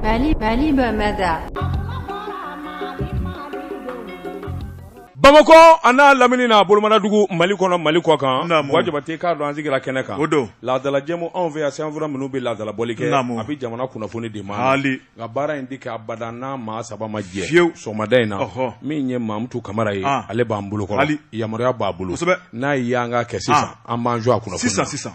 Mali Mali bamada bamakɔ an'a lamini na a bolomadugu mali kɔnɔ mali kɔ kan Buwa Jabatɛ k'a dɔn an sigira kɛnɛ kan o don laadalajɛmu anw fɛ yan sɛbɛnfura minnu bɛ laadalabɔli kɛ a bɛ jamana kunnafoni de ma nka baara in tɛ kɛ abada n'a maa saba ma jɛ fiyewu sɔgɔmada in na min ye mamutu kamara ye ale b'an bolo kɔrɔ yamaruya b'a bolo n'a ye yan ka kɛ sisan an b'an jɔ a kun na sisan sisan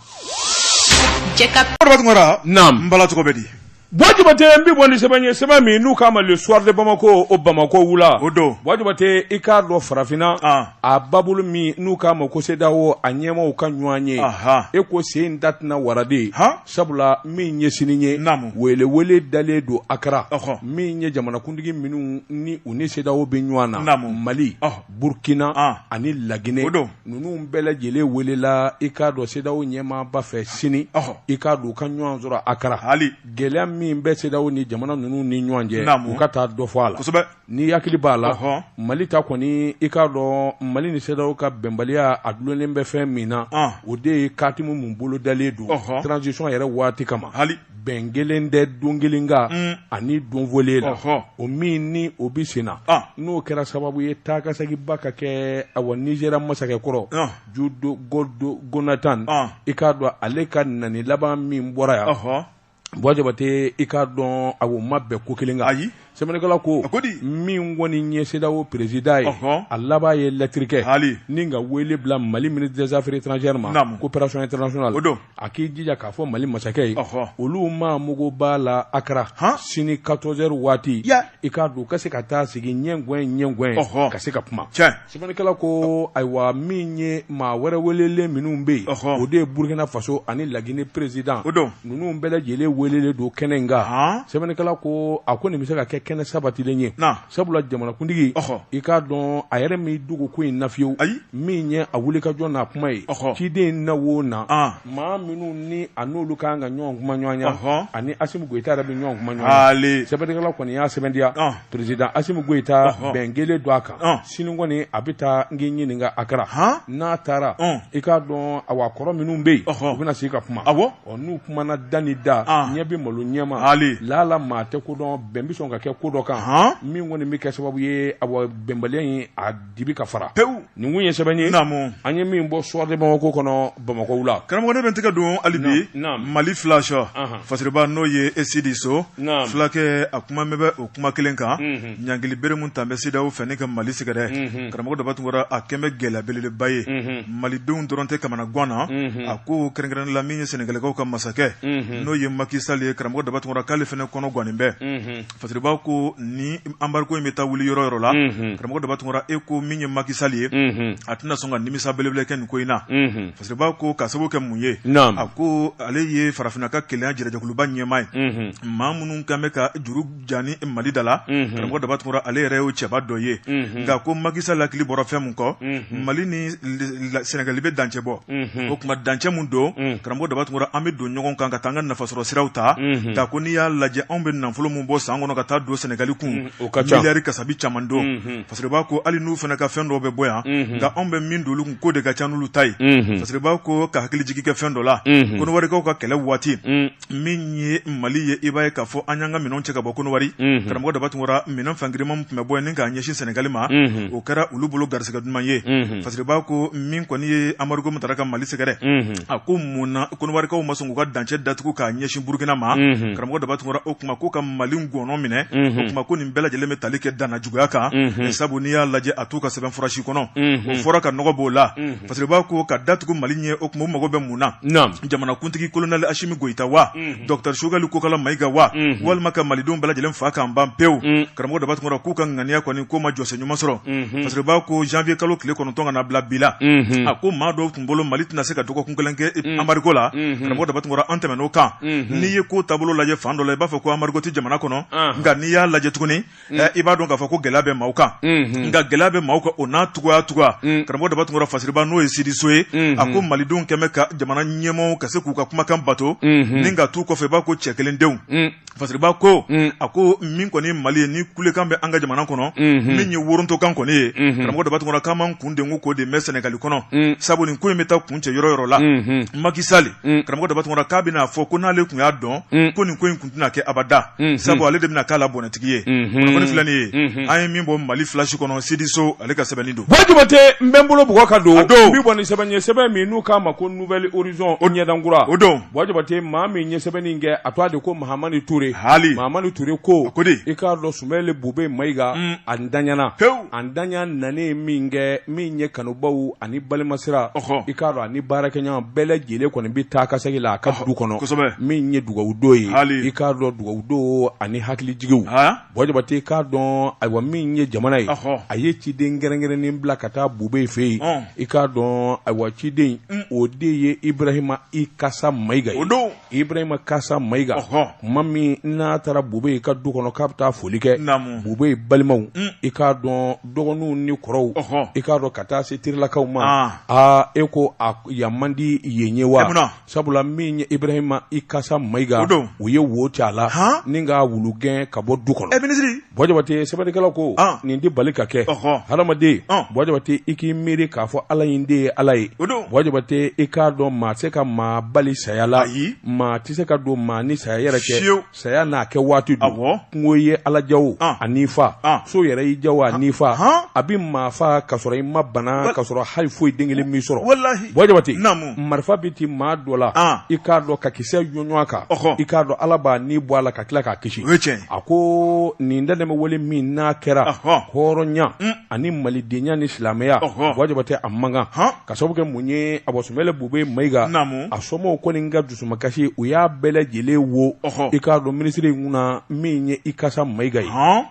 Cɛkɔrɔba na bala cogo bɛ di Buwa Jabatɛ n bɛ bɔ ni sɛbɛn ye sɛbɛn min n'u k'a ma Le Soir de Bamako o bamakɔ wula o don Buwa Jabatɛ i k'a dɔn farafinna a babolo min n'u k'a ma ko CEDEAO a ɲɛmaaw ka ɲɔgɔnye e ko sen dat waradi sabula min ye sini ye welewele dalen don a kɛra min ye jamanakuntigi minnu ni u ni CEDEAO bɛ ɲɔgɔn na mali burukina ani laginɛ o don Ninnu bɛɛ lajɛlen welela i k'a dɔn CEDEAO ɲɛmaaba fɛ sini i k'a dɔn u ka ɲɔgɔn sɔrɔ a kɛra hali gɛlɛya min bɛ CEDEAO ni jamana ninnu ni ɲɔgɔn cɛ u ka taa dɔ fɔ a la n'i hakili b'a la mali ta kɔni i k'a dɔn mali ni CEDEAO ka bɛnbaliya a dulonnen bɛ fɛn min na o de ye katimu minnu bolodalen don transition yɛrɛ waati kama hali bɛn kelen tɛ don kelen kan mm. ani don fɔlen la o min ni o bɛ sen na ah. n'o kɛra sababu ye taakaseginba ka kɛ awa Nigeria masakɛ kɔrɔ ah. Goodluck Jonathan ah. i k'a dɔn ale ka nani laban min bɔra yan Buwa Jabatɛ i k'a dɔn awa u ma bɛn ko kelen kan ayi Sɛbɛnnikɛla ko, a ko di? min kɔni ye CEDEAO président ye, ɔhɔ, a laban ye lettre kɛ, haali, ni ka wele bila Mali ministre des affaires étrangères ma, naamu, coopération internationale, o don, a k'i jija k'a fɔ Mali masakɛ ye, ɔhɔ, olu maa mago b'a la Accra, han, sini 14 heures waati, ya, i k'a dɔn u ka se ka taa sigi ɲɛgɔɲɛ ɲɛgɔɲɛ, ɔhɔ, ka se ka kuma, tiɲɛ. Sɛbɛnnikɛla ko ayiwa min ye maa wɛrɛ welelen minnu bɛ yen o de ye Burukina Faso ani Lagine president ninnu bɛɛ lajɛlen welelen don kɛnɛ in kan sɛbɛnnikɛla ko a kɔni bɛ se ka kɛ kɛnɛ sabatilen ye sabula jamanakuntigi i k'a dɔn a yɛrɛ m'i dogo ko in na fiyewu min ye a wulikajɔ n'a kuma ye ciden na o na maa minnu ni a n'olu ka kan ka ɲɔgɔn kumaɲɔgɔnya ani Asimi Goyita yɛrɛ bɛ ɲɔgɔn kumaɲɔgɔnya sɛbɛnnikɛla kɔni y'a sɛmɛntiya. Président Asimi Goyita bɛn kelen don a kan sini kɔni a bɛ taa n k'i ɲininka a kɛra n'a taara i k'a dɔn a kɔrɔ minnu bɛ yen u bɛna se ka kuma n'u kumana da ni da ɲɛ bɛ malo ɲɛ ma hali laala maa tɛ ko dɔn bɛn bɛ sɔn ka kɛ ko dɔ kan min kɔni bɛ kɛ sababu ye a bɛnbaliya in dibi ka fara pewu nin kun ye sɛbɛn ye naamu an ye min bɔ Soir de Bamako kɔnɔ Bamako wula karamɔgɔ ne bɛ n tɛgɛ don hali bi Mali flash fasiriba n'o ye Esidi So filakɛ a kumanen bɛ o kuma kelen kan ɲangili bere min tanen bɛ CEDEAO fɛ ni ka Mali sɛgɛrɛ karamɔgɔ daba Tunkara a kɛlen bɛ gɛlɛya belebeleba ye malidenw dɔrɔn tɛ kamanagan na a ko kɛrɛnkɛrɛnnen la min ye Sɛnɛgalikaw ka masakɛ n'o ye Macky Sall ye karamɔgɔ daba Tunkara k'ale fana kɔnɔ gannen bɛ. Fasiriba ko ni anbariko in bɛ taa wuli yɔrɔ yɔrɔ la karamɔgɔ daba Tunkara e ko min ye makisali ye a tɛna sɔn ka nimisa belebele kɛ nin ko in na Fasiriba ko k'a sabu kɛ mun ye a ko ale ye farafinna ka kelenya jira jɛkuluba ɲɛmaa ye maa minnu kɛlen bɛ ka juru jan ni mali da la karamɔgɔ daba Tunkara ale yɛrɛ ye o cɛba dɔ ye nka ko makisali hakili bɔra fɛn min kɔ mali ni sɛnɛgali bɛ dancɛ bɔ o kuma dancɛ min don karamɔgɔ daba Tunkara an bɛ don ɲɔgɔn kan ka taa an ka nafasɔrɔ siraw ta nka ko n'i y'a lajɛ anw bɛ nafolo min bɔ san kɔnɔ ka taa don sɛnɛgali kun miliyari kasabi caman don Fasiriba ko hali n'u fana ka fɛn dɔ bɛ bɔ yan nka anw bɛ min don olu kun k'o de ka ca n'olu ta ye Fasiriba ko ka hakilijigin kɛ fɛn dɔ la kɔnɔwarikaw ka kɛlɛ waati min ye mali ye i b'a ye k'a fɔ an y'an ka minɛn cɛ ka bɔ kɔnɔwari mhm. karamɔgɔ daba Tunkara minɛn fan girinman tun bɛ bɔ ni k'a ɲɛsin sɛnɛgali ma mhm. o kɛra olu bolo garisɛgɛ duman ye mhm. Fasiriba ko min kɔni ye anbariko min tara ka mali sɛgɛrɛ a ko mun na kɔnɔwarikaw ma sɔn k'u ka dancɛ datugu k'a ɲɛsin burukina ma karamɔgɔ daba Tunkara o kuma k'u ka mali ngɔnɔ minɛ o kuma ko nin bɛɛ lajɛlen bɛ tali kɛ dannajuguya kan sabu n'i y'a lajɛ a t'u ka sɛbɛn fura si kɔnɔ o fɔra ka nɔgɔ b'o la Fasiriba ko ka datugu mali ɲɛ o kuma u mago bɛ mun na jamanakuntigi kolonɛli asimi goyita wa mhm. dɔkitɛri sogɛli kokala mayiga wa mhm. walima ka malidenw bɛɛ lajɛlen faa k'an ban pewu mhm. karamɔgɔ daba Tunkara k'u ka ŋaniya kɔni k'o ma jɔsen ɲuman sɔrɔ Fasiriba ko janvier kalo tile kɔnɔntɔn ka na bila bi la a ko maa dɔw tun bolo mali tɛna se ka dɔgɔkun kelen kɛ e, anbariko la karamɔgɔ daba Tunkara an tɛmɛn'o kan n'i ye ko taabolo lajɛ fan dɔ la i b'a fɔ ko anbariko tɛ jamana kɔnɔ nka n'i y'a lajɛ tuguni mm. eh, i b'a dɔn k'a fɔ ko gɛlɛya bɛ maaw kan mm -hmm. nka gɛlɛya bɛ maaw kan o n'a taga o taga mm. karamɔgɔ daba tunkara fasiriba n'o ye sidiso ye mm -hmm. a ko malidenw kɛlen bɛ ka jamana ɲɛmɔgɔw ka se k'u ka kumakan bato mm -hmm. ni ka t'u kɔfɛ i b'a ko cɛ kelen denw mm. fasiriba ko mm. a ko min kɔni mali ye ni kulekan bɛ an ka jamana kɔnɔ mm -hmm. min ye worontokan kɔni ye mm -hmm. karamɔgɔ daba tunkara k'an man kun den ko k'o de mɛ sɛnɛgali kɔnɔ mm. sabu nin ko in bɛ taa kuncɛ yɔrɔ yɔrɔ la mm -hmm. makisali mm. karamɔgɔ daba tunkara k'a bɛna fɔ ko n'ale tun y'a dɔn mm. ko nin ko in tɛna kɛ abada sabu ale de bɛna k'a la bɔnɛtigi ye kunnafoni filɛ nin ye an ye min bɔ Mali flash kɔnɔ Sidiso ale ka sɛbɛnni don Buwa Jabate n bɛ n bolo bugɔ ka don o don n bɛ bɔ ni sɛbɛn ye sɛbɛn min n'u k'a ma ko nouvelle horizon o ɲɛdan kura o don Buwa Jabate maa min ye sɛbɛnni in kɛ a tɔgɔ de ko Mahamani Ture haali Mahamani Ture ko a ko di i k'a dɔn Sumeyilu Bubɛyi Mayiga a ntanyana pewu a ntanya nanen min kɛ min ye kanubaaw ani balimasira i k'a dɔn ani baarakɛɲɔgɔn bɛɛ lajɛlen kɔni bɛ taa ka segin la a ka du kɔnɔ min ye dugawudon ye i k'a dɔn dugawudon ani hakilijigiw bɔjabate k'a dɔn ayiwa min ye jamana ye a ye ciden kɛrɛnkɛrɛnnen bila ka taa bube fɛ yen i k'a dɔn ayiwa ciden o de ye ibrahima ikasa mayiga ye o don Ibrahima Ikasa Mayiga, ɔhɔ, tuma min n'a taara Bube ka du kɔnɔ k'a bɛ taa foli kɛ, naamu, Bube balimaw, un, i k'a dɔn dɔgɔninw ni kɔrɔw, ɔhɔ, i k'a dɔn ka taa se terilakaw ma, an, aa e ko a yan man di yen ye wa? Munna? Sabula min ye Ibrahima Ikasa Mayiga, o don, u ye wo ci a la, han, ni k'a wulugɛn ka bɔ du kɔnɔ. Ɛ minisiri! Bɔjabate sɛbɛnnikɛlaw ko Ɔn. nin tɛ bali ka kɛ Ɔhɔ. hadamaden Ɔn. Bɔjabate i k'i miiri k'a fɔ Ala in de ye Ala ye O don. Bɔjabate i k'a dɔn maa tɛ se ka maa bali saya la Ayi. maa tɛ se ka don maa ni saya yɛrɛ cɛ Fiyewu. saya n'a kɛ waati don Awɔ. kungo ye Ala ja o Ɔn. a n'i fa Ɔn. so yɛrɛ y'i ja o a n'i fa Ɔn. a bɛ maa fa ka sɔrɔ i ma bana ka sɔrɔ hali foyi den kelen m'i sɔrɔ Walahi. Bɔjabate Naamu. marifa bɛ ti maa dɔ la i k'a dɔn ka kisɛ ɲɔgɔn kan i k'a dɔn ala b'a ni bɔ a la ka tila k'a kisi a ko nin dantɛmɛ wale min n'a kɛra hɔrɔnya ani malidenya ni silamɛya bɔjabate a man kan k'a sababu kɛ mun ye a ba sumeyilu bube mayiga a somɔgɔw kɔni ka dusumakasi u y'a bɛɛ lajɛlen wo i k'a dɔn minisiri in kunna min ye ikasa mayiga ye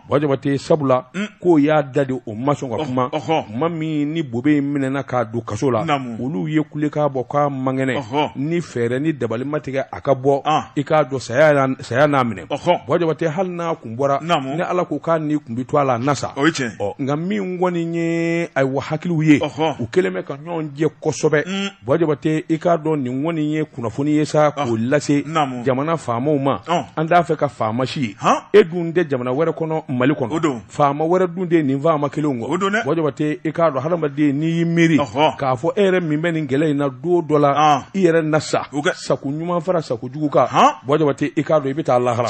Bɔjabate sabula k'o y'a da de o ma sɔn ka kuma tuma min ni Bube in minɛɛna k'a don kaso la olu ye kulekan bɔ k'a man kɛnɛ ni fɛɛrɛ ni dabali ma tigɛ a ka bɔ i k'a dɔn saya saya n'a minɛ Bɔjabate hali n'a kun bɔra ni Ala ko k'a ni tun bɛ to a la a na sa nka min kɔni ye ayiwa hakiliw ye u kɛlen bɛ ka ɲɔgɔn jɛ kosɛbɛ Bɔjabate i k'a dɔn nin kɔni ye kunnafoni ye sa k'o lase jamana faamaw ma an t'a fɛ ka faama si ye e dun tɛ jamana wɛrɛ kɔnɔ mali kɔnɔ o don faama wɛrɛ dun tɛ nin faama kelenw kɔ Bɔjabate i k'a dɔn hadamaden n'i y'i miiri k'a fɔ e yɛrɛ min bɛ nin gɛlɛya in na don dɔ la i yɛrɛ na sa sago ɲuman fara sago jugu kan Bɔjabate i k'a dɔn i bɛ taa lahara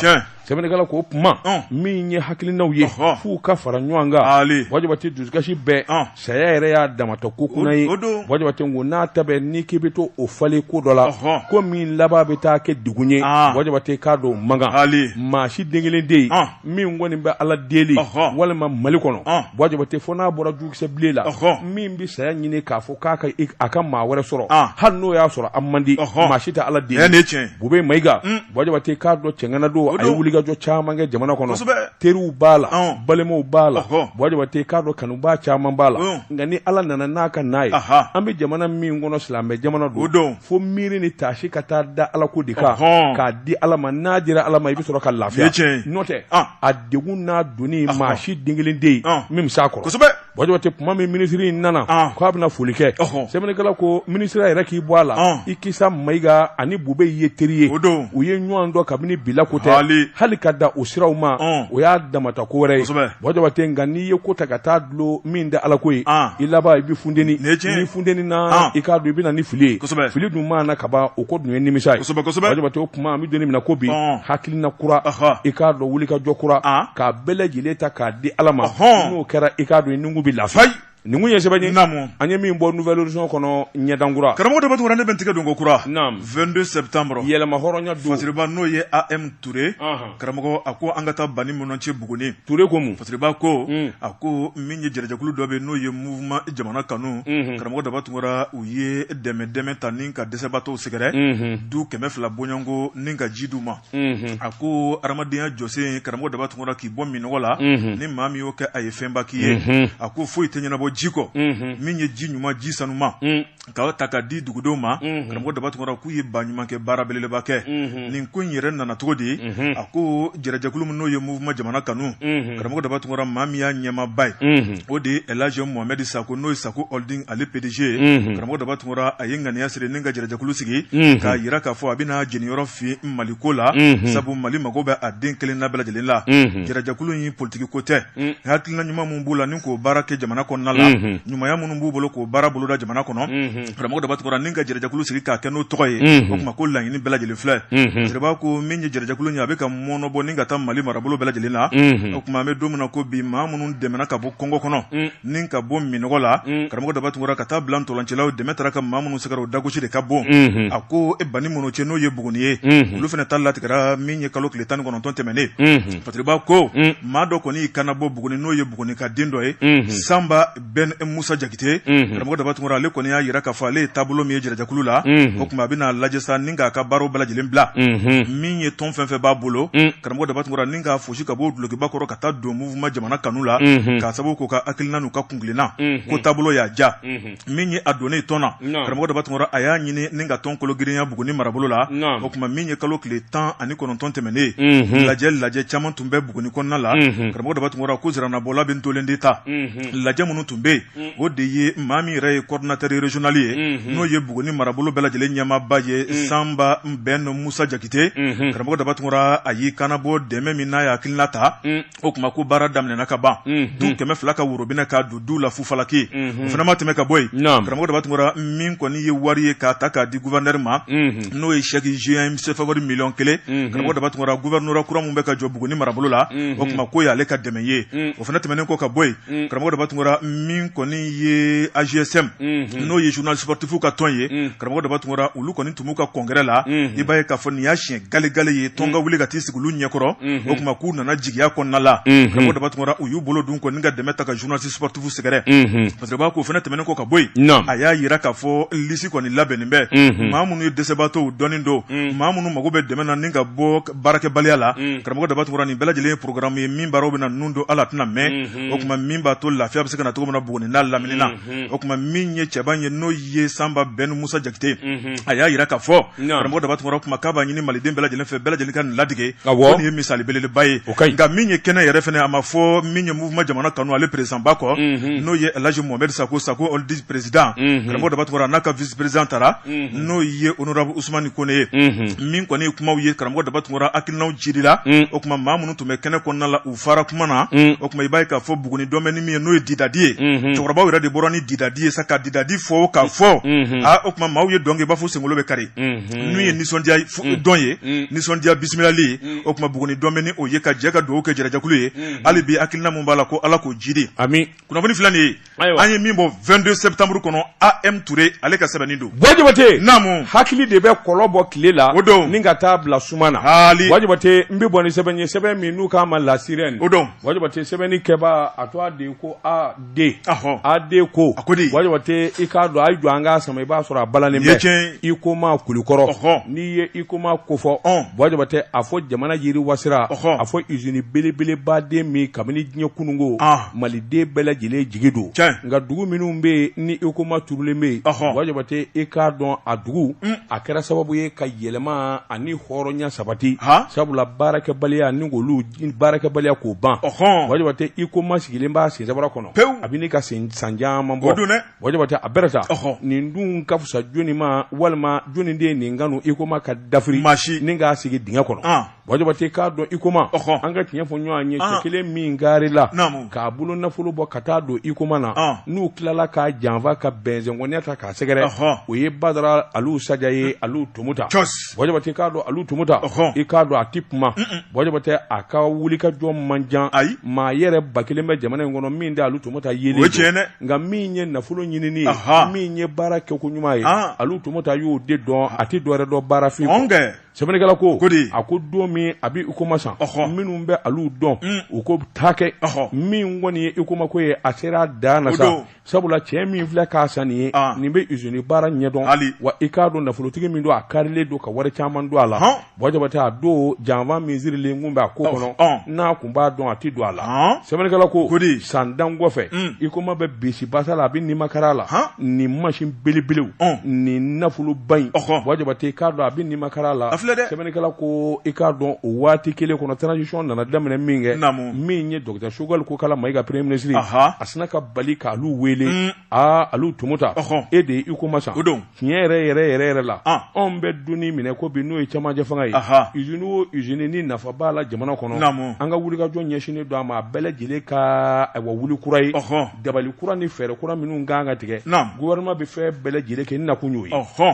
sɛbɛnnikɛla ko kuma min ye hakilinaw ye f'u ka fara ɲɔgɔn kan bɔjabate dusukasi bɛɛ saya yɛrɛ y'a dama ta ko kunan ye bɔjabate ko n'a ta bɛ n'i k'i bɛ to o falen ko dɔ la ko min laban bɛ taa kɛ degun ye bɔjabate k'a dɔn a man kan maa si den kelen tɛ yen min kɔni bɛ ala deli walima mali kɔnɔ bɔjabate fo n'a bɔra jukisɛ bilen la min bɛ saya ɲini k'a fɔ k'a ka a ka maa wɛrɛ sɔrɔ hali n'o y'a sɔrɔ a man di maa si tɛ ala deli bube mayiga Bɔjabate k'a dɔn cɛŋana don a ye wulikajɔ caman kɛ jamana kɔnɔ teriw b'a la balimaw b'a la Bɔjabate k'a dɔn kanubaa caman b'a la nka ni Ala nana n'a ka na ye an bɛ jamana min kɔnɔ silamɛ jamana don fo miiri ni taasi ka taa da Ala ko de kan k'a di Ala ma n'a dira Ala ma i bɛ sɔrɔ ka lafiya n'o tɛ a degun n'a donni maa si den kelen tɛ yen min bɛ s'a kɔrɔ. Bwa Jabate tuma min minisiri in nana k' a bɛna foli kɛ sɛbɛnnikɛla ko minisiri yɛrɛ k'i bɔ a la Ikasa Mayiga ani Bubeyi ye teri ye o don u ye ɲɔgɔn dɔn kabini bi la ko tɛ hali ka da u siraw ma o y'a damata ko wɛrɛ ye Bwa Jabate nka n'i ye ko ta ka taa dulon min da ala ko ye i laban i bɛ funteni ni funteni na i k'a dɔn i bɛna na ni fili ye sɛbɛ fili dun mana ka ban o kɔ dun ye nimisa kuma an bɛ don min na ko bi hakilina kura i k'a dɔn wulikajɔ kura k'a bɛɛ lajɛlen ta k'a di ala ma n'o kɛra i k'a dɔn i nugu bɛ lafiya nin kun ye sɛbɛn ye naamu an ye min bɔ Nouvel Horizon kɔnɔ ɲɛdankura karamɔgɔ Daba Tunkara ne bɛ n tigɛ don ko kura naam vingt-deux septembre yɛlɛma hɔrɔnya don Fasiriba n'o ye AM Ture karamɔgɔ a ko an ka taa Banimɔnɔcɛ Buguni Ture ko mun Fasiriba ko a ko min ye jɛrɛjɛkulu dɔ bɛ n'o ye mouvement jamana kanu karamɔgɔ Daba Tunkara u ye dɛmɛ dɛmɛ ta ni ka dɛsɛbaatɔw sɛgɛrɛ du kɛmɛ fila bɔɲɔgɔnko ni ka ji di u ma a ko adamadenya jɔsen karamɔgɔ Daba Tunkara k'i bɔ minnɔgɔ la ni maa min y'o kɛ a ye fɛnba k'i ye a ko foyi tɛ ɲɛnabɔ ji kɔ min ye ji ɲuman ji sanuma k'a ta ka di dugudenw ma karamɔgɔ Daba Tunkara k'u ye ba ɲuman kɛ baara belebeleba kɛ nin ko in yɛrɛ nana cogo di a ko jɛrɛjɛkulu min n'o ye mouvement jamana kanu karamɔgɔ Daba Tunkara maa min y'a ɲɛmaaba ye o de ye Elhadji Mohamed Sako n'o ye Sako Holding ale PDG ye karamɔgɔ Daba Tunkara a ye ŋaniya siri ni ka jɛrɛjɛkulu sigi k'a jira k'a fɔ a bɛna jɛniyɔrɔ fin Mali ko la sabu Mali mago bɛ a den kelenna bɛɛ lajɛlen la jɛrɛjɛkulu in politiki ko tɛ hakilina ɲuman minnu b'u la ni k'o baara kɛ jamana kɔnɔna la ɲumanya minnu b'u bolo k'o baara boloda jamana kɔnɔ karamɔgɔ Daba Tunkara ni ka jɛrɛjɛkulu sigi k'a kɛ n'o tɔgɔ ye o tuma ko laɲini bɛɛ lajɛlen filɛ jeliba ko min ye jɛrɛjɛkulu ye a bɛ ka mɔɔnɔbɔ ni ka taa Mali marabolo bɛɛ lajɛlen na o tuma an bɛ don min na ko bi maa minnu dɛmɛna ka bɔ kɔngɔ kɔnɔ ni ka bɔ minnɔgɔ la karamɔgɔ Daba Tunkara ka taa bila ntɔncɛlaw dɛmɛ taara ka maa minnu sɛgɛrɛ o dagosi de ka bon a ko e Banimɔnɔcɛ n'o ye Buguni ye olu fana ta latigɛra min ye kalo tile tan ni kɔnɔntɔn tɛmɛnen Fasiriba ko maa dɔ kɔni kanabɔ Buguni n'o ye Buguni ka den dɔ ye Sanba Ben Musa Jakite karamɔgɔ Daba Tunkara ale kɔni y'a jira k'a fɔ ale ye taabolo min ye jɛrɛjɛkulu la o tuma a bɛna lajɛ sa ni k'a ka baaraw bɛɛ lajɛlen bila min ye tɔn fɛn fɛn b'a bolo karamɔgɔ Daba Tunkara ni k'a fosi ka bɔ dulɔkiba kɔrɔ ka taa don mouvement jamana kanu la k'a sababu k'u ka hakilina n'u ka kuntilenna ko taabolo y'a diya min ye a donnen tɔn na karamɔgɔ Daba Tunkara a y'a ɲini ni ka tɔn kologirinya Buguni marabolo la o tuma min ye kalo tile tan ani kɔnɔntɔn tɛmɛnen ye lajɛ lajɛ caman tun tun bɛ Buguni kɔnɔna la, unhun, karamɔgɔ Daba Tunkara ko ziranabɔla bɛ ntolen de ta, unhun, lajɛ minnu tun bɛ yen, un, o de ye maa min yɛrɛ ye coordinateur régional ye, unhun, n'o ye Buguni marabolo bɛɛ lajɛlen ɲɛmaaba ye, un, Sanba Ben Musa Jakite, unhun, karamɔgɔ Daba Tunkara a y'i kanabɔ dɛmɛ min na a ye hakilina ta, un, o tuma ko baara daminɛna ka ban, unhun, du kɛmɛ fila ka worobinɛ ka du la fufalaki o fana ma tɛmɛ ka bɔ yen karamɔgɔ daba tunkara min kɔni ye wari ye k'a ta k'a di gouverneur ma n'o ye chèque géant sefawari miliyɔn kelen karamɔgɔ daba tunkara gouvernorat kura min bɛ ka jɔ buguni marabolo la o tuma k'o y'ale ka dɛmɛ ye o fana tɛmɛnen kɔ ka bɔ yen karamɔgɔ daba tunkara min kɔni ye AJSM n'o ye journalistes sportifs ka tɔn ye karamɔgɔ daba tunkara olu kɔni tun b'u ka congrès la i b'a ye k'a fɔ nin y'a siɲɛ galegale ye tɔn ka wuli ka t'i sigi olu ɲɛkɔrɔ o tuma k'u nana jigiya kɔnɔna la karamɔgɔ daba tunkara u y'u bolo dun kɔni ka dɛmɛ ta ka journalistes sportifs sɛgɛrɛ parce que a k'o fana tɛmɛnen kɔ ka bɔ yen a y'a yira k'a fɔ lisi kɔni labɛnnen bɛ maa minnu ye dɛsɛbaatɔ dɔnnen don maa minnu mago bɛ dɛmɛ na ni ka bɔ baarakɛbaliya la karamɔgɔ daba tunkara nin bɛɛ lajɛlen ye programme ye min baaraw bɛna nun don a la tɛna mɛn o tuma min b'a to lafiya bɛ se ka na cogo min na buguni n'a lamini na o kuma min ye cɛba ye n'o ye sanba bɛn musa jakite a y'a yira k'a fɔ karamɔgɔ daba tunkara kuma k'a b'a ɲini maliden bɛɛ lajɛlen fɛ bɛɛ lajɛlen ka nin ladege nin ye misali belebeleba ye nka min ye kɛnɛ yɛrɛ fana a ma fɔ min ye mouvement jamana kanu ale présidentba kɔ n'o ye el hadj mohamed sacko sacko holding président karamɔgɔ daba tunkara a n'a ka vice-président taara n'o ye honorable usumani kɔnɛ ye min kɔni kumaw ye karamɔgɔ daba tunkara hakilina jirila o kuma maa minnu tun bɛ kɛnɛ kɔnɔna la fara kuma na mm. o kuma i b'a ye k'a fɔ buguni dɔn bɛ ni min ye n'o ye didadi ye mm-hmm. cɛkɔrɔbaw yɛrɛ de bɔra ni didadi ye sa ka didadi fɔ k'a fɔ mm-hmm. a o kuma maaw ye dɔn kɛ i b'a fɔ senkolo bɛ kari mm-hmm. n'u ye nisɔndiya mm. dɔn ye mm. nisɔndiya bisimilali ye o kuma buguni dɔn bɛ ni o ye ka jɛ ka dugawu kɛ jɛrɛjɛkulu ye hali bi hakilina min b'a la ko ala k'o jidi kunnafoni filɛ nin ye an ye min bɔ vingt-deux septembre kɔnɔ AM toure ale ka sɛbɛnni don bua jabate naamu hakili de bɛ kɔlɔ bɔ tile la o don ni ka taa bila suma na bua jabate n bɛ bɔ ni sɛbɛn ye sɛbɛn min n'u k'a ma la sirène o don bua jabate sɛbɛnni kɛba a tɔgɔ de ko AD ahɔ AD ko a ko di bua jabate i k'a dɔn a jɔ an k'a sama i b'a sɔrɔ a balannen bɛ huicoma kulikɔrɔ n'i ye huicoma kofɔ bua jabate a fɔ jamana yiriwa sira a fɔ izini belebeleba don min kabini diɲɛ kununko maliden bɛɛ lajɛlen jigi don nka dugu minnu bɛ ni huicoma turulen bɛ yen bua jabate i k'a dɔn a dugu a kɛra sababu ye ka yɛlɛma ani hɔrɔnya sabati sabula baarakɛbaliya ni k'olu baarakɛbaliya k'o ban bua jabate huicoma sigilen b'a sen sabara kɔnɔ pewu a bɛ ɲini ka san caman bɔ bua jabate a bɛ sa nin dun ka fisa jɔnni ma walima jɔnni de ye nin kanu huicoma ka dafiri nin k'a sigi dingɛ kɔnɔ Bua jabate i k'a dɔn huicoma an ka tiɲɛ fɔ ɲɔgɔn ye cɛ kelen min garila k'a bolo nafolo bɔ ka taa don huicoma na n'u tilala k'a janfa ka bɛɛjɛ kɔniya ta k'a sɛgɛrɛ o ye badara alu saja ye alu tomota k'a dɔn alu tomota i k'a dɔn a tɛ kuma bua jabate a ka wulikajɔ man ca ayi maa yɛrɛ ba kelen bɛ jamana in kɔnɔ min da alu tomota ye nka min ye nafolo ɲinini ye min ye baara kɛko ɲuman ye alu tomota y'o de dɔn a tɛ dɔwɛrɛ dɔn baarafin sɛbɛnnikɛla ko ko de a ko don min a bɛ huicoma san minnu bɛ alu dɔn mm. u ko taa kɛ min kɔni ye huicoma ko ye a sera dan na sa sabula cɛ min filɛ k'a san nin ye ah. nin bɛ izini baara ɲɛdɔn hali wa i k'a dɔn nafolotigi min don a karilen don ka wari caman don a la bua jabate a don janfa min sirilen kun bɛ a ko kɔnɔ n'a n b'a dɔn a tɛ don a la Ɔn. sɛbɛnnikɛla ko Ko di? san dan kɔfɛ Mm. huicoma bɛ bisi basa la a bɛ nimakara la Han. nin masin belebelew Ɔn. nin nafoloba in Ɔhɔn. bua jabate i k'a dɔn a bɛ nimakara la A filɛ dɛ. sɛbɛnnikɛla ko i k'a dɔn o waati kelen kɔnɔ transition nana daminɛ min kɛ Naamu. min ye docteur choguel kokalla maïga premier ministre Aha. a sina ka bali k'alu wele Mm. aa alu tomota Ɔhɔn. e de ye huicoma san O don. tiɲɛ yɛrɛ yɛrɛ yɛrɛ yɛrɛ la ah. anw bɛ don in min na ko bi n'o ye cɛmancɛ fanga ye usine o usine ni nafa b'a la jamana kɔnɔ an ka wulikajɔ ɲɛsinnen don a ma a bɛɛ lajɛlen ka ayiwa wuli kura ye dabali kura ni fɛɛrɛ kura minnu kan ka tigɛ gouvernement bɛ fɛn bɛɛ lajɛlen kɛ n nakun y'o ye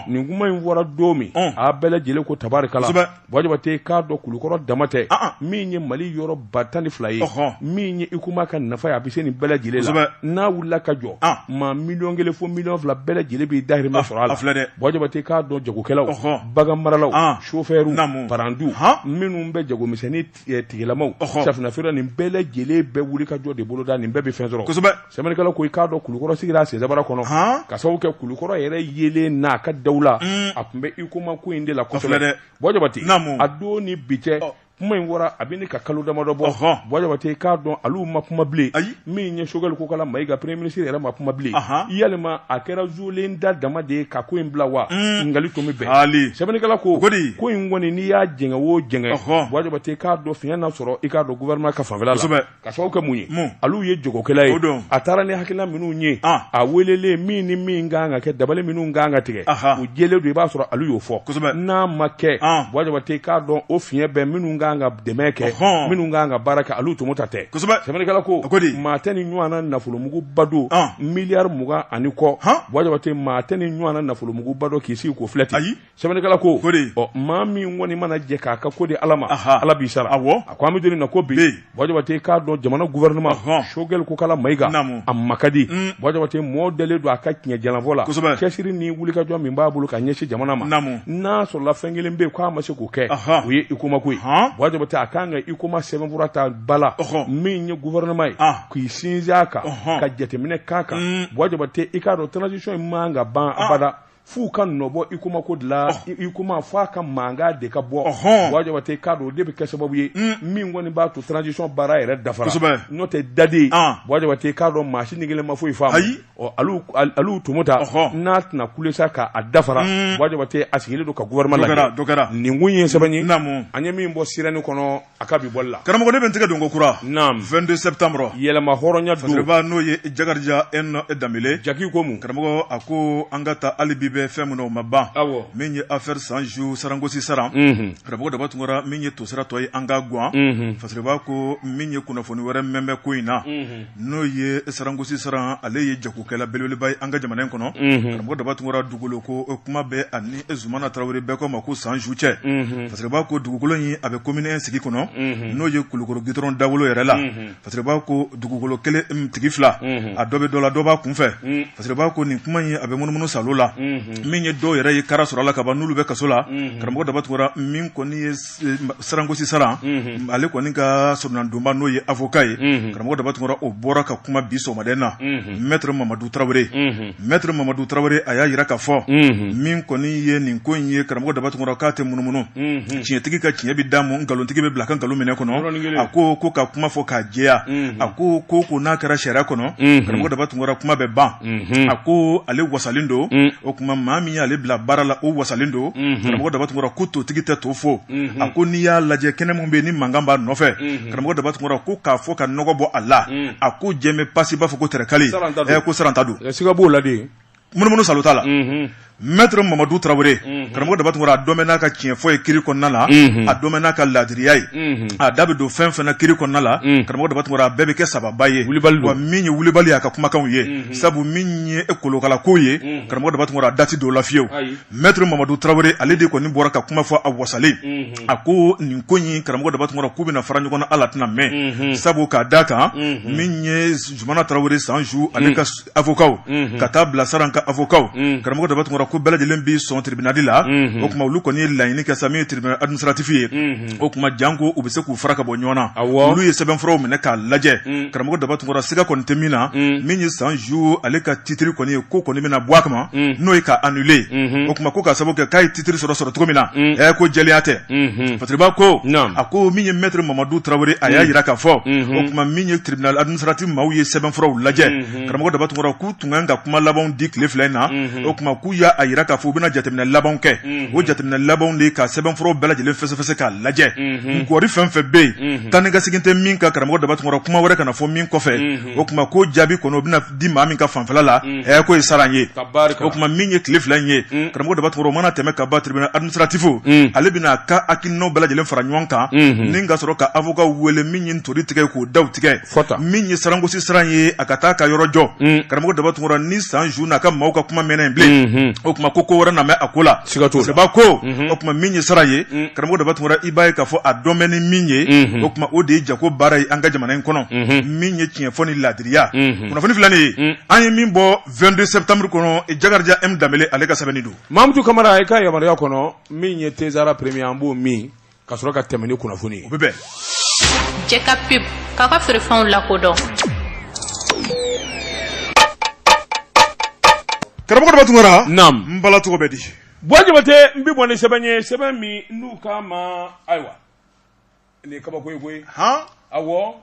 nin kuma in fɔra don min a bɛɛ lajɛlen ko tabarikala Bua jabate k'a dɔn kulukɔrɔ dama tɛ min ye mali yɔrɔ ba tan ni fila ye min ye huicoma ka nafa ye a bɛ se nin bɛɛ lajɛlen na n'a wulila ka jɔ maa miliyɔn kelen fo miliyɔn fila bɛɛ lajɛlen b'i dahirimɛ sɔrɔ a la bua jabate k'a dɔn jagokɛlaw baganmaralaw chauffeur paranti minnu bɛ jagomisɛnnin eh, tigilamaw safinɛ feere nin bɛɛ lajɛlen bɛ wuli ka jɔ de boloda nin bɛɛ bɛ fɛn sɔrɔ kosɛbɛ sɛbɛnnikɛla ko i k'a dɔn kulukɔrɔ sigira a senzabara kɔnɔ ka sababu kɛ kulukɔrɔ yɛrɛ yeelen n'a ka dawula mm. a tun bɛ huicoma ko in de la kosɛbɛ bua jabate a don ni bi cɛ kuma in fɔra a bɛ ɲini ka kalo damadɔ bɔ bua jabate i k'a dɔn alu ma kuma bilen min ye choguel kokalla maïga premier ministre yɛrɛ ma kuma bilen yalima a kɛra zulen da dama de ye ka ko in bila wa ɲininkali mm. tun bɛ bɛn sɛbɛnnikɛla ko ko in kɔni n'i y'a jɛngɛ o jɛngɛ bua jabate k'a dɔn fiɲɛ na sɔrɔ i k'a dɔn gouvernement ka fanfɛla la ka sababu kɛ mun ye alu ye jagokɛla ye a taara ni hakilina minnu ye a welelen min ni min ka kan ka kɛ dabali minnu ka kan ka tigɛ u jɛlen don i b'a sɔrɔ alu y'o fɔ n'a ma kɛ bua jabate k'a dɔn o fiɲɛ bɛ minnu ka kan ka dɛmɛ kɛ minnu ka kan ka baara kɛ alu tomota tɛ sɛbɛnnikɛla ko maa tɛ nin ɲɔgɔnna nafolomuguba don miliyari mugan ani kɔ bua jabate maa tɛ nin ɲɔgɔnna nafolomuguba don k'i sigi k'o filɛ ten ayi sɛbɛnnikɛla ko ɔ maa min kɔni mana jɛn k'a ka ko di ala ma ala b'i sara a ko an bɛ don in na ko bi bua jabate k'a dɔn jamana gouvernement choguel kokalla maïga a ma ka di bua jabate mɔɔ dalen don a ka tiɲɛ jalanfɔ la cɛsiri ni wulikajɔ min b'a bolo ka ɲɛsin jamana ma n'a sɔrɔla fɛn kelen bɛ k'a ma se kɛ o ye huicoma ko ye bua jabate a kan ka huicoma sɛbɛnfura ta bala min ye gouvernement ye k'i sinsin a kan ka jateminɛ k'a kan mm. bua jabate i k'a dɔn transition in man ka ban abada f'u ka nɔ bɔ huicoma ko de la huicoma f'a ka mankan de ka bɔ bua jabate k'a dɔn o de bɛ kɛ sababu ye mm. min kɔni b'a to transition baara yɛrɛ dafara n'o tɛ daden bua jabate k'a dɔn maa si ni kelen ma foyi faamu alu tomota n'a tɛna kule sa k'a dafara wa jabate a sigilen don ka gouvernement la kɛra nin kun ye sɛbɛn ye an ye min bɔ sirɛni kɔnɔ a ka bi bɔli la karamɔgɔ ne bɛ n tɛgɛ don ko kura naamu 22 septembre yɛlɛma hɔrɔnya donba n'o ye jakarija danbele jaki ko mun karamɔgɔ a ko an ka taa hali bi bɛ fɛn minnu o ma ban min ye affaire sanju sarankosi saran karamɔgɔ daba tunkara min ye to siratɔ ye an ka gan fasiriba ko min ye kunnafoni wɛrɛ mɛn bɛ ko in na n'o ye sarankosi saran ale ye jagokɛla belebeleba ye an ka jamana in kɔnɔ karamɔgɔ daba tunkara dugukolo ko kuma bɛ ani zumana tarawele bɛɛ ko ma ko sanju cɛ fasiriba ko dugukolo in a bɛ commune un sigi kɔnɔ n'o ye kulukɔrɔ gudɔrɔn dawolo yɛrɛ la fasiriba ko dugukolo kelen tigi fila a dɔ bɛ dɔ la dɔ b'a kun fɛ fasiriba ko nin kuma in a bɛ munumunu salo la min ye dɔw yɛrɛ ye kara sɔrɔ la ka ban n'olu bɛ kaso la karamɔgɔ daba tunkara min kɔni ye sarankosi saran ale kɔni ka soronnadonba n'o ye avoka ye karamɔgɔ daba tunkara o bɔra ka kuma bi sɔgɔmaden na mɛtre mamadu tarawele mɛtre mamadu tarawele a y'a jira k'a fɔ min kɔni ye nin ko in ye karamɔgɔ daba tunkara k'a tɛ munumunu tiɲɛtigi ka tiɲɛ bɛ d'a ma nkalontigi bɛ bila a ka nkalon minɛ kɔnɔ a ko ko ka kuma fɔ k'a jɛya a ko ko ko n'a kɛra sariya kɔnɔ karamɔgɔ daba tunkara kuma bɛ ban a ko ale wasalen don mm. o kuma maa min y'ale bila baara la o wasalen don mm-hmm. karamɔgɔ daba tunkara ko totigi tɛ to fo mm-hmm. a ko n'i y'a lajɛ kɛnɛ min bɛ yen ni mankan b'a nɔfɛ mm-hmm. karamɔgɔ daba tunkara ko k'a fɔ ka nɔgɔ bɔ a la mm. a ko jɛmɛ pasi b'a fɔ ko tɛrɛkali ko saran ta don siga b'o la de munumunu salo t'a la Maitre Mamadu Tarawele, unhun, karamɔgɔ daba tunkara, a dɔn bɛ n'a ka tiɲɛ fɔ ye kiri kɔnɔna la, unhun, a dɔn bɛ n'a ka laadiriya ye, unhun, a da bɛ don fɛn o fɛn na kiri kɔnɔna la, unhun, karamɔgɔ daba tunkara, a bɛɛ bɛ kɛ sababa ye, Wulibali don, wa min ye Wulibali y'a ka kumakanw ye, unhun, sabu min ye kolokala ko ye, unhun, karamɔgɔ daba tunkara, a da tɛ don o la fiyew, ayi, Maitre Mamadu Tarawele ale de kɔni bɔra ka kuma fɔ a wasalen, unhun, a ko nin ko in karamɔgɔ daba tunkara k'u bɛna fara ɲɔgɔn na hali a tɛna mɛɛn, unhun, sabu k'a d'a kan, unhun, min ye Zumana Tarawele Sanju ale ka avokaw ka taa bila saran ka avokaw karamɔgɔ daba tunkara ko bɛɛ lajɛlen bɛ sɔn tiribinali la o kuma olu kɔni ye laɲini kɛ sa min ye tiribinali administratifi ye o kuma janko u bɛ se k'u fara ka bɔ ɲɔgɔn na olu ye sɛbɛnfuraw minɛ k'a lajɛ karamɔgɔ daba tunkara siga kɔni tɛ min na min ye sanju ale ka titiri kɔni ye ko kɔni bɛna bɔ a kama n'o ye ka annuler o kuma ko ka sababu kɛ titiri sɔrɔ sɔrɔ cogo min na ɛ ko jɛlenya tɛ fasiriba ko a ko min ye mɛtiri mamadu tarawele a y'a jira k'a fɔ o kuma min ye tiribinali administratifi maaw ye sɛbɛnfuraw lajɛ karamɔgɔ daba tunkara k'u tun kan ka kuma labanw di tile fila in na o kuma k'u y'a jira k'a fɔ u bɛna jateminɛ laban kɛ o jateminɛ labanw de ka sɛbɛnfuraw bɛɛ lajɛlen fɛsɛfɛsɛ k'a lajɛ kɔri fɛn fɛn bɛ yen taa ni ka segin tɛ min kan karamɔgɔ daba tunkara kuma wɛrɛ kana na fɔ min kɔfɛ o kuma ko jaabi kɔnɔ di maa min ka fanfɛla la mm. ɛ k'o ye sariya ye o tuma min ye tile fila in ye mm. karamɔgɔ daba tunkara o mana tɛmɛ ka ban tribunal administratif mm. ale bɛna ka hakilinaw bɛɛ lajɛlen fara ɲɔgɔn kan mm-hmm. ni ka sɔrɔ ka avocat wele min ye ntori tigɛ k'o daw tigɛ min ye sarangosi siran ye a ka taa ka yɔrɔ jɔ karamɔgɔ daba tunkara ni san ju n'a ka maaw ka kuma mɛnna yen bilen mm-hmm. o tuma ko ko wɛrɛ na mɛ a ko la seba ko mm-hmm. o tuma min ye sariya ye karamɔgɔ daba tunkara i b'a ye k'a fɔ a dɔn bɛ ni min ye o tuma o de ye jago baara ye an ka jamana in kɔnɔ min ye tiɲɛ fɔ ni laadi ya kunnafoni filanan an ye min bɔ vingt-deux septembre kɔnɔ jakarija m danbele ale ka sɛbɛnni don mamutu kamara i ka yamaruya kɔnɔ min ye tezara premier an b'o mɛn ka sɔrɔ ka tɛmɛ ni kunnafoni ye bɛ bɛn cɛ ka pub k'a ka feerefɛnw lakodɔn karamɔgɔ daba tunkara n bala tɔgɔ bɛ di buwa jabate n bɛ bɔ ni sɛbɛn ye sɛbɛn min n'u k'a ma ayiwa nin kabako ye koyi han awɔ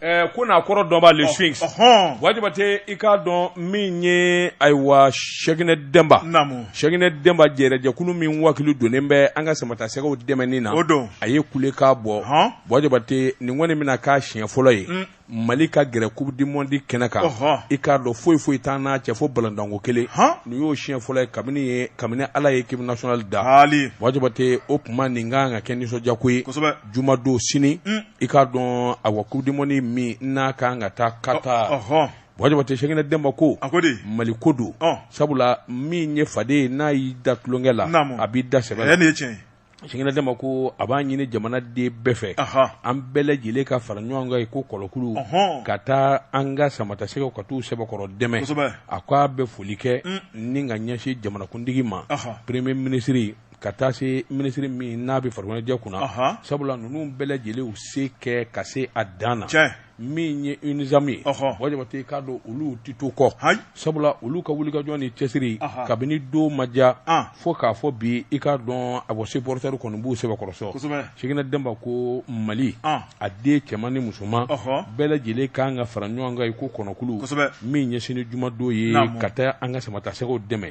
ɛɛ ko n'a kɔrɔ dɔnba le sphinx ɔhɔn buwa jabate i k'a dɔn min ye ayiwa sɛginɛ dɛnba namu sɛginɛ dɛnba jɛrɛjɛkulu min wakili donnen bɛ an ka samatasɛgɛw dɛmɛni na o don a ye kule k'a bɔ hɔn buwa jabate nin kɔni bɛna k'a siɲɛ fɔlɔ ye un mali ka gɛrɛ coupe du monde kɛnɛ kan Ɔhɔn. i k'a dɔn foyi foyi t'an n'a cɛ fo balontanko kelen Han. nin y'o siɲɛ fɔlɔ ye kabini ye kabini ala ye équipe nationale da Jaati. buwa jabate o tuma nin ka kan ka kɛ nisɔndiyako ye Kosɛbɛ. juma don sini Mm. i k'a dɔn awa coupe du monde min n'a ka kan ka taa qatar Ɔhɔn. buwa jabate sɛginɛ dɛnba ko A ko de. mali ko don Ɔn. sabula min ye faden ye n'a y'i da tulonkɛ la Naamu. a b'i da sɛbɛ Ɛɛ la nin ye tiɲɛ ye. Sɛginɛ dɛnba ko a b'a ɲini jamanaden bɛɛ fɛ an bɛɛ lajɛlen ka fara ɲɔgɔn kan i ko kɔnɔkulu ka taa an ka samatasɛgɛw ka taa u sɛbɛkɔrɔ dɛmɛ a ko a bɛ foli kɛ ni ka ɲɛsin jamanakuntigi ma peremiye minisiri ka taa se minisiri min n'a bɛ farikoloɲɛnajɛ kunna sabula ninnu bɛɛ lajɛlen y'u se kɛ ka se a dan na min ye unasam ye buwa jabate i k'a dɔn olu tɛ to kɔ sabula olu ka wulikajɔ ni cɛsiri kabini tuma jan fo k'a fɔ bi i k'a dɔn a bɔ supporter kɔni b'u sɛbɛkɔrɔ sɔ sɛginɛ dɛnba ko mali a den cɛman ni musoman bɛɛ lajɛlen k'an ka fara ɲɔgɔn kan i ko kɔnɔkulu min ɲɛsin ni jumadon ye ka taa an ka samatasɛgɛw dɛmɛ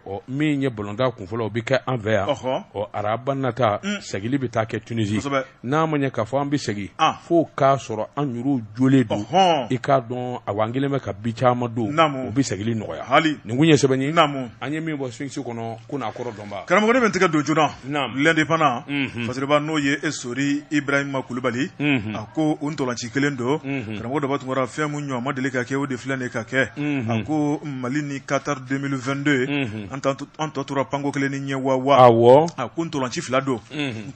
ɔ min ye balontan kunfɔlɔ o bɛ kɛ an fɛ yan ɔ araba nata mm. segili bɛ taa kɛ tunisi n'a ma ɲɛ k'a fɔ an bɛ segin ah. fo k'a sɔrɔ an yɛrɛw jɔlen don i k'a dɔn a an kelen bɛ ka bi caman don o bɛ segili nɔgɔya nin tun ye sɛbɛn ye an ye min bɔ sphinx kɔnɔ ko n'a kɔrɔ dɔnba karamɔgɔ bɛ tigɛ don joona l'indépendant fasiriba n'o ye e sori ibrahima kulubali a ko o ntolanci kelen don karamɔgɔ daba tunkara fɛn min ɲɔgɔn ma deli ka kɛ o de filɛ nin ka kɛ a ko mali ni katari deux mille vingt-deux an tɔ tora panko kelen ni ɲɛ waa a ko ntolanci fila don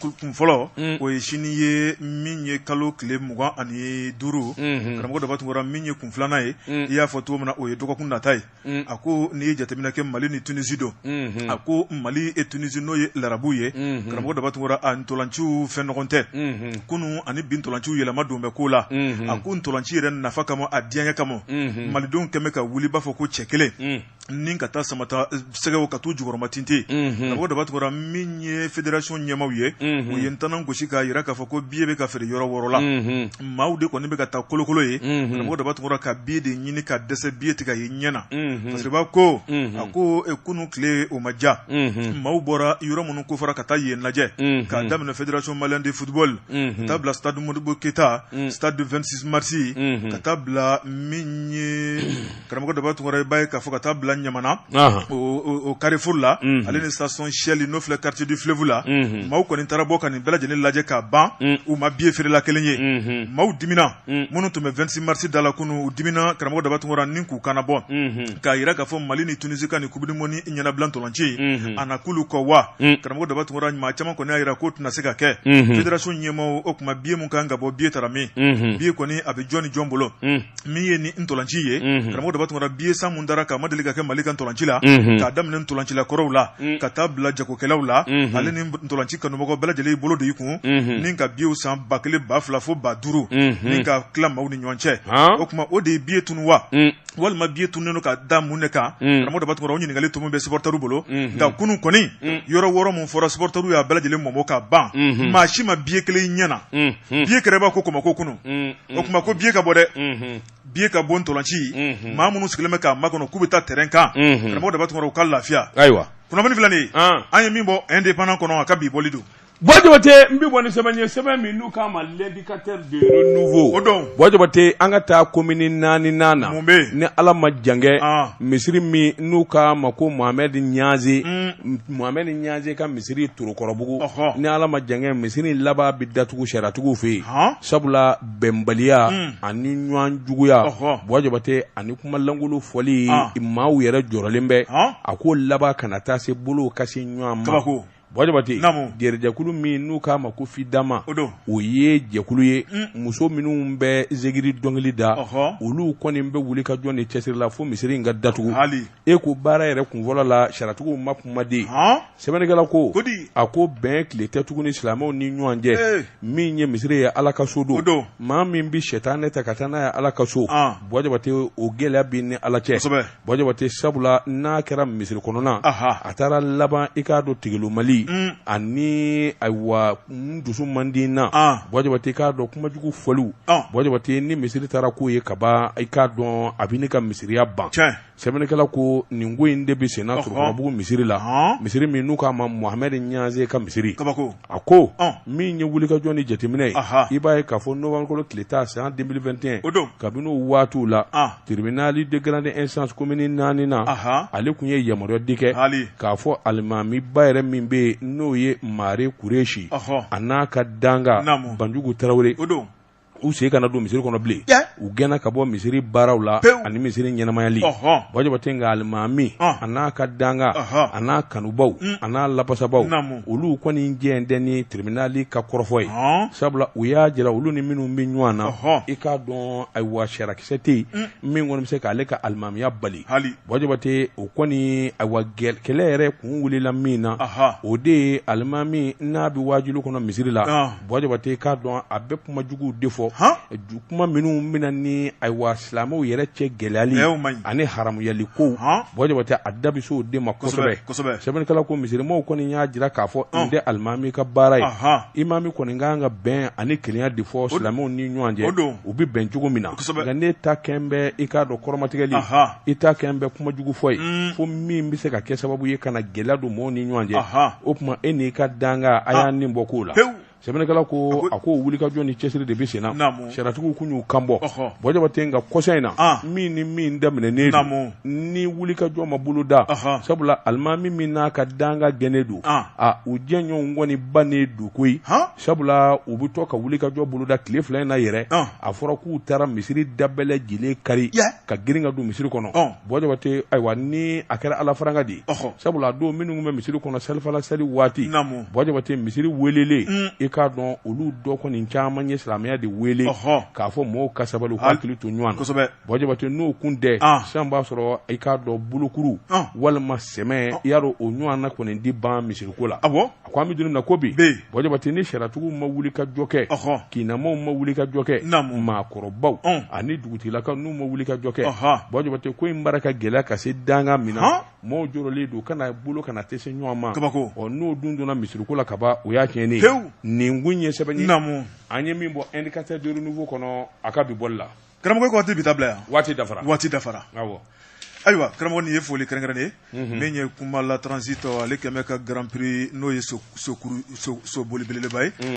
kun fɔlɔ o ye sini ye min ye kalo tile mugan ani duuru karamɔgɔ daba tunkara min ye kun filanan ye i y'a fɔ cogo min na o ye dɔgɔkun nata ye Mm. a ko n'i ye jateminɛ kɛ mali ni tunisi don mm-hmm. a ko mali e tunisi n'o ye larabu ye mm-hmm. karamɔgɔ daba tunkara a ntolanciw fɛn nɔgɔn tɛ mm-hmm. kunu ani bi ntolanciw yɛlɛma don bɛ ko la a ko ntolanci yɛrɛ nafa kama a diyaɲɛ kama malidenw kɛmɛ ka wuli b'a fɔ ko cɛ kelen mm. ni ka taa samata eh, sɛgɛw ka t'u jukɔrɔmatintin karamɔgɔ daba tunkara min ye federasɔn ɲɛmaaw ye u ye ntanan gosi k'a yira k'a fɔ ko biye bɛ ka feere yɔrɔ wɔɔrɔ la maaw de kɔni bɛ ka taa kolokolo ye karamɔgɔ daba tunkara ka biye de ɲini ka dɛsɛ biye tɛ ka ye ɲɛ na parce que b'a ko a ko kunun tile o ma ja maaw bɔra yɔrɔ minnu ko fɔra ka taa yen lajɛ k'a daminɛ fédération malienne de football ka taa bila stade modibo keyita stade du vingt-six mars ka taa bila min ye karamɔgɔ daba tunkara i b'a ye k'a fɔ ka taa bila ɲamana o karifuru la mhm. ale ni station shell n'o filɛ quartier du fleuve la mhm. maaw kɔni taara bɔ ka nin bɛɛ lajɛlen lajɛ ka ban mhm. u ma biye feerela kelen ye maaw dimina minnu tun bɛ vingt-six mars da la kunu u dimina karamɔgɔ daba tunkara ni k'u kana bɔ k'a jira k'a fɔ mali ni tunisi ka ni coupe du monde ɲɛnabila ntolanci ye a na k'olu kɔ wa karamɔgɔ daba tunkara maa caman kɔni y'a jira k'o tɛna se ka kɛ federasɔn ɲɛmaaw o tuma biye min kan ka bɔ biye taara min biye kɔni a bɛ jɔn ni jɔn bolo min ye ni ntolanci ye mhm. karamɔgɔ daba tunkara biye san mun dara k'a ma deli ka kɛ mali ka ntolanci la mhm. k'a daminɛ ntolancila kɔrɔw la mhm. ka taa bila jagokɛlaw la ale ni ntolanci kanubaga bɛɛ lajɛlen bolo de i kun ni ka biyew san ba kelen ba fila fo ba duuru ni ka tila maaw ni ɲɔgɔn cɛ o tuma o de ye biye tunu wa walima biye tununen don ka da mun de kan karamɔgɔ daba tunkara o ɲininkali tun bɛ supɔrɔtɛriw bolo nka kunu kɔni yɔrɔ wɔɔrɔ mun fɔra supɔrɔtɛriw y'a bɛɛ lajɛlen mɔmɔ ka ban maa si ma biye kelen ɲɛ na biye kɛra ba ko kɔmako kunu o mm. tuma ko biye ka bɔ dɛ mm-hmm. biye ka bɔ ntolanci mm-hmm. maa minnu sigilen bɛ k'a makɔnɔ k'u bɛ taa tɛrɛn kan mm-hmm. karamɔgɔ daba tunkara u ka lafiya ayiwa kunnafoni filɛ nin ye ah. an ye min bɔ indépendant kɔnɔ a ka bi bɔli don Buwa Jabate n bɛ bɔ ni sɛbɛn ye sɛbɛn min n'u k'a ma l'indicateur du renouveau o don Buwa Jabate an ka taa komini naaninan na mun bɛ yen ni Ala ma jan kɛ ah. misiri min n'u k'a ma ko Mohamed Niaze mm. Mohamed Niaze ka misiri Torokɔrɔbugu ni Ala ma jan kɛ misiri laban bɛ datugu sariyatigiw fɛ yen. sabula bɛnbaliya ani ɲɔgɔn juguya buwa jabate ani kumalankolon fɔli maaw yɛrɛ jɔrɔlen bɛ a ko laban kana taa se bolo ka se ɲɔgɔn ma buwa jabate jɛrɛjɛkulu min n'u k'a ma ko fidama o don o ye jɛkulu ye muso minnu bɛ zikiri dɔnkili da olu kɔni bɛ wuli ka jɔ ni cɛsiri la fo misiri in ka datugu e ko baara yɛrɛ kun fɔlɔ la sariyatigiw ma kumaden sɛbɛnnikɛla ko a ko bɛn tile tɛ tuguni silamɛw ni ɲɔgɔn cɛ min ye misiri ye ala ka so don maa min bɛ sɛtanɛ ta ka taa n'a ye ala ka so Bua Jabate o gɛlɛya b'e ni ala cɛ Bua Jabate sabula n'a kɛra misiri kɔnɔna a taara laban i k'a dɔn tigillo mali mm. ani ayiwa dusu man di na Bua Jabate i k'a dɔn kumajugu fɔliw Bua Jabate ni misiri taara k'o ye kaban i k'a dɔn a bɛ ne ka misiriya ban sɛbɛnnikɛla ko nin ko in de bɛ senna Torokɔrɔbugu misiri la, ɔhɔ, misiri min n'u k'a ma Mohamed Ɲanze ka misiri, kabako, a ko, ɔn, min ye wulikajɔ ni jateminɛ ye, aha, i b'a ye k'a fɔ nowanburukalo tile tan san 2021, o don, kabini o waatiw la, an, tribunal de grande instance commune naani na, aha, ale tun ye yamaruya di kɛ, haali, k'a fɔ alimamiba yɛrɛ min bɛ yen n'o ye Mare Kureshi, ɔhɔ, a n'a ka dankan, naamu, Banjugu Tarawele, o don. u sen kana don misiri kɔnɔ bilen Tiɲɛ. u gɛnna ka bɔ misiri baaraw la Pewu. ani misiri ɲɛnamayali Ɔhɔn. Bua Jabate nka alimami Ɔn. a n'a ka dankan Ɔhɔn. a n'a kanubaw a n'a lapasabaw Naamu. olu kɔni jɛn tɛ ni tribunali ka kɔrɔfɔ ye Ɔn. sabula u y'a jira olu ni minnu bɛ ɲɔgɔn na Ɔhɔn. i k'a dɔn ayiwa sariyakisɛ tɛ yen min kɔni bɛ se k'ale ka alimamiya bali Hali. Bua Jabate o kɔni ayiwa gɛl- kɛlɛ yɛrɛ kun wulila min na Aha. o de ye alimami n'a bɛ waajuli kɔnɔ misiri la Ɔn. Bua Jabate i k'a dɔn a bɛ kuma juguw de fɔ kuma minnu bɛna ni ayiwa silamɛw yɛrɛ cɛ gɛlɛyali ani haramuyali kow Bua Jabate a da bɛ se o de ma kosɛbɛ sɛbɛnnikɛla ko misirimaaw kɔni y'a jira k'a fɔ nin tɛ alimami ka baara ye imami kɔni ka kan ka bɛn ani kelenya de fɔ silamɛw ni ɲɔgɔn cɛ u bɛ bɛn cogo min na nka n'e ta kɛn bɛ i k'a dɔn kɔrɔmatigɛli i ta kɛn bɛ kuma jugu fɔ ye mm. fo min bɛ se ka kɛ sababu ye ka na gɛlɛya don mɔgɔw ni ɲɔgɔn cɛ o tuma e n'i ka dankan a y'a ah. nin bɔ kow la sɛbɛnnikɛla ko a ko wulikajɔ ni cɛsiri de bɛ senna sariyatigiw kun y'u kanbɔ Bua Jabate nka kɔsa in na ah. min ni min daminɛnen don ni wulikajɔ ma bolo da sabula alimami min n'a ka dankan gɛnnen don ah. a u jɛɲɔgɔnw kɔni bannen don koyi sabula u bɛ to ka wulikajɔ boloda tile fila in na yɛrɛ a fɔra k'u taara misiri da bɛɛ lajɛlen kari ka girin ka don misiri kɔnɔ Bua Jabate ayiwa ni a kɛra ala faranga de ye sabula a don minnu bɛ misiri kɔnɔ salifana sali waati Bua Jabate misiri welelen mm. i k'a dɔn olu dɔ kɔni caman ye silamɛya de wele k'a fɔ mɔgɔw ka sabali k'u hakili to ɲɔgɔn na Bua Jabate n'o kun tɛ sisan b'a sɔrɔ i k'a dɔn bolokuru walima sɛmɛ i y'a dɔn o ɲɔgɔnna kɔni di ban misiriko la a ko an bɛ don min na ko bi Bua Jabate ni sariyatigiw ma wulikajɔ kɛ kinnamaaw ma wulikajɔ kɛ maakɔrɔbaw ani dugutigilakaw n'u ma wulikajɔ kɛ Bua Jabate ko in baara ka gɛlɛya ka se danga min na maaw jɔrɔlen don kana bolo kana tɛ se ɲɔgɔn ma ɔ n'o dun donna misiriko la kaban o y'a tiɲɛnen ye nin kun ye sɛbɛn ye an ye min bɔ indicateur de renouveau kɔnɔ a ka bi bɔli la Karamɔgɔ ko waati bɛ taa bila yan waati dafara waati dafara ayiwa karamɔgɔ nin ye foli kɛrɛnkɛrɛnnen ye min ye Kumala transit ale kɛmɛ ka grand prix n'o ye soboli belebeleba ye